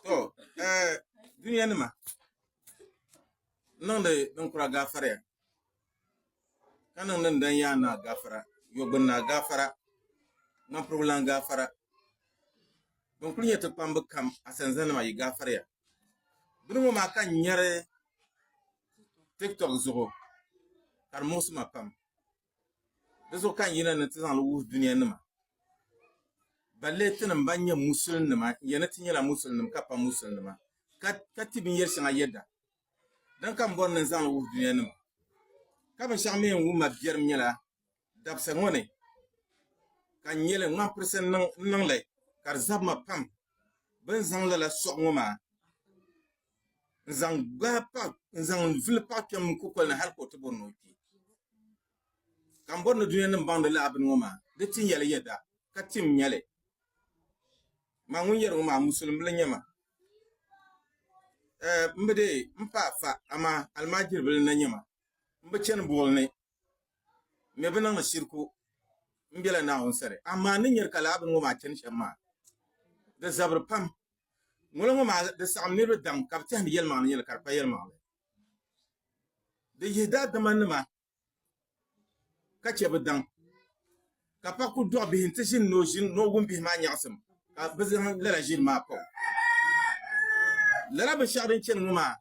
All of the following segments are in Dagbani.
to eh duniya nima niŋdi din kura gafariya ka niŋ din dan yaa naa gafara yogbin naa gafara ŋanpurgulan gafara bin kuli nyɛ ti kpambi kam asanza nima yi gafariya bini ŋɔ maa ka n nyɛri tiktok zuɣu ka di muɣisi ma pam Di zuɣu ka n yina ni ti zaŋli wuhi dunia nima balle ti nim ban nyɛ musul nima n yɛ ni ti nyɛla musul nim ka pa musul nima ka ka ti binyɛri shɛŋa yɛda din ka n bɔri ni n zaŋli wuhi dunia nima ka binshɛɣu mii n wumma biɛrim nyɛla dabisa ŋɔ ni ka n nyɛli ŋman pirisi n niŋli ka di zabi ma pam bin zaŋ lala soɣi ŋɔ maa n zaŋ gbahi pa n zaŋ vili paɣa kpɛm n ku koli ni hali ka o ti bɔri ni o kpi ka n bɔri ni duniya nim baŋdi lahi bini ŋɔ maa di ti yɛli yɛda ka tim nyɛli ma ŋun yɛri ŋɔ maa musulim bili nyɛma n bi dee n pa fa amaa almaajiri bili na nyɛma n bi chani buɣili ni mi bi niŋdi shiriku n bela naawuni sani amaa ni nyɛri ka lahabini ŋɔ maa chani shɛm maa di zabiri pam ŋolo ŋɔ maa di saɣim niriba dam ka bɛ tɛhindi yɛlimaŋli nyɛli ka di pa yɛlimaŋli di yihi daadama nima ka chɛ bi daŋ ka pa ku dɔɣi bihi nti ʒini ni o ʒini ni o wum bihi maa nyaɣisim ka bi zaŋ lala ʒini maa pa o lala binshɛɣu din chani ŋɔ maa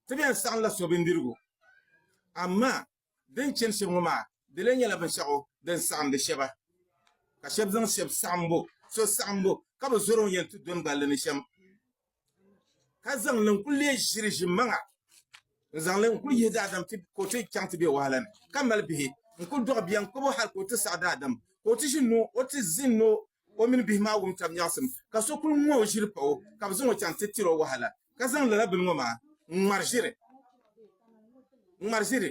ti bɛn saɣimla sobindirigu amaa din chani shɛm ŋɔ maa, di lee nyɛla binshɛɣu din saɣindi shɛba, ka shɛb zaŋ shɛb saɣimbu, so saɣimbu ka bi zɔr o yɛn ti dɔni balli ni shɛm, ka zaŋ li n-kul lee ʒiri ʒimaŋa n-zaŋ li n-kul yihi daadam ti ka o ti chaŋ ti be wahala ni, ka mali bihi n-kul dɔɣi bia n-kpab o hal ka o ti saɣi daadam, ka o ti ʒi noo o ti zi noo o mini bihi maa wumtab nyaɣisim, ka so kul ŋma o ʒiri pa o, ka bɛ zaŋ o chaŋ ti tir o wahala, ka zaŋ lala bini ŋɔ maa ŋ-ŋmari ʒiri. Ŋmari ʒiri.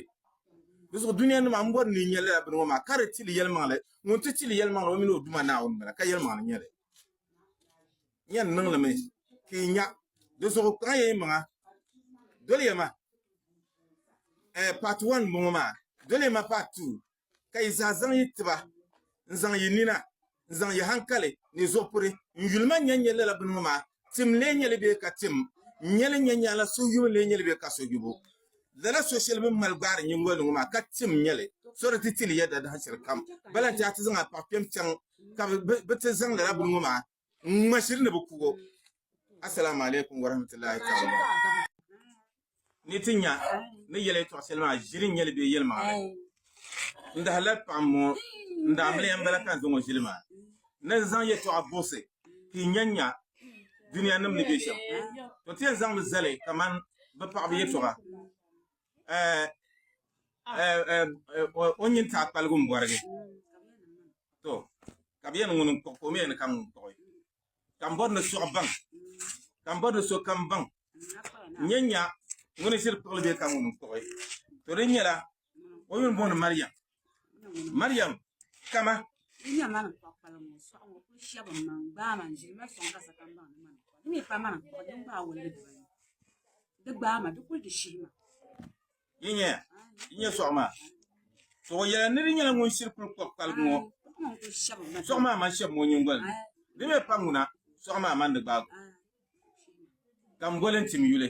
Di zuɣu dunia nima, m bɔri ni yi nya lala bini ŋɔ maa, ka di ti li yɛlimaŋli. Ŋun ti ti li yɛlimaŋli, o mini o Duuma Naawuni m-bala, ka yɛlimaŋli nyɛ li. N yɛn niŋ li mi ka yi nya. Di zuɣu kpaŋ ya yimaŋa, doli ya ma. Ɛɛ, part one m-bɔŋɔ maa, doli ya ma part two. ka yi zaa zaŋ yi tiba n-zaŋ yi nina n-zaŋ yi haŋkali ni zuɣu puri n-yuli ma n-nya n-nyɛ lala bini ŋɔ maa, tim n-lee nyɛ li bee ka tim n-nyɛ li n-nya n-nya la suhuyubu n-lee nyɛ li bee ka suhuyubu lala so shɛli bɛ ni mali gbaari nyiŋgoli ni ŋɔ maa ka tim n-nyɛ li so di ti ti li yɛda dahinshɛlikam bala nti a ti zaŋ a paɣ kpɛm chaŋ ka bɛ ti zaŋ lala bini ŋɔ maa ŋmashiri ni bi kugo assalamu alaikum warahmatullahi taala ni ti nya ni yɛli tɔɣ shɛli maa ʒiri n nyɛli bee yɛli maɣali n daha la paɣa mo n daa mili yɛn bala ka n zaŋ o ʒili maa ni n zaŋ yɛtɔɣa buɣisi ka yi nya nya duniya nim ni bɛ shɛm to ti yɛn zaŋmi zali kamani bi paɣaba yɛtɔɣa o nyin taɣa kpaligu m-bɔrigi to ka bɛ yɛn ŋuni n-kpuɣi ka o mi yɛn ka ŋun kpuɣi ka m-bɔri ni suɣi baŋ ka m-bɔri ni so kam baŋ n-nyɛ nya ŋuni ʒiri kpuɣili bee ka ŋuni n-kpuɣi to di nyɛla o yuli booni Mariam Mariam kama yi nya yi nya sɔɣu maa sɔɣu yɛla ni di nyɛla ŋun shiri kuli kpɔb kpaligu ŋɔ sɔɣu maa man shɛbi ŋɔ nyingoli ni di mi pa ŋuna sɔɣu maa man di gbaagu ka m boli n tim yuli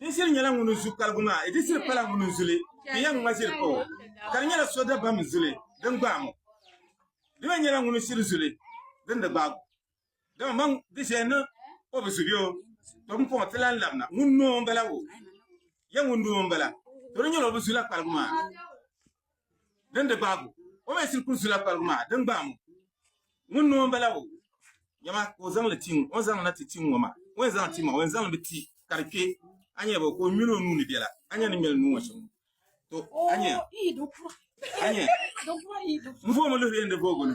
Di zili nyɛla ŋun n-zu kaligu maa, di zili pala ŋun n-zuli, di yɛn ŋma zili pa o, ka di nyɛla so dabam n-zuli din gbaam o. Di mi nyɛla ŋun siri zuli din di gbaag o, dama man di ʒiɛhi ni o bi zu be o tɔbimpoŋ ti lan labina. Ŋun nooi m-bala wo? Yɛm ŋun nooi m-bala, doli nyɛla o bi zu la kpaligu maa. din di gbaag o. O mi siri kul zula kpaligu maa din gbaam o. Ŋun ni o m-bala o, nyama ka o zaŋ li ti ŋun o ni zaŋ li na ti ti ŋ-ŋɔ maa. O yɛn zaŋ ti ma, o yɛn zaŋ li bi ti ka di kpe. A nya bɔ ka o ŋmel o nuu ni bela? A nya ni ŋmel n nuu ŋɔ shɛm? To, a nya, a nya, n voom n lihiri yɛn di voog o ni.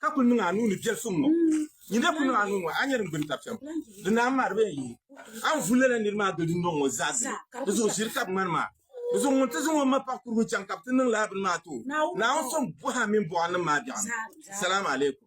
ka kuli niŋ a nuu ni biɛli suŋ ŋɔ. Nyin daa kuli niŋ a nuu ŋɔ, a nya din gbini ka piɛm. Di naan maa di bi yɛn yihi. A ni vuli lala nir maa be dundɔŋ ŋɔ zaa gili, di zuɣu ʒiri ka bi ŋmani ma. Di zuɣu ŋun ti zaŋ o ma pahi kurigu chaŋ ka bɛ ti niŋ lala bini maa ti o, Naawuni sɔŋ buɣa mini buɣanim maa biɛɣuni. Salaam alaikum.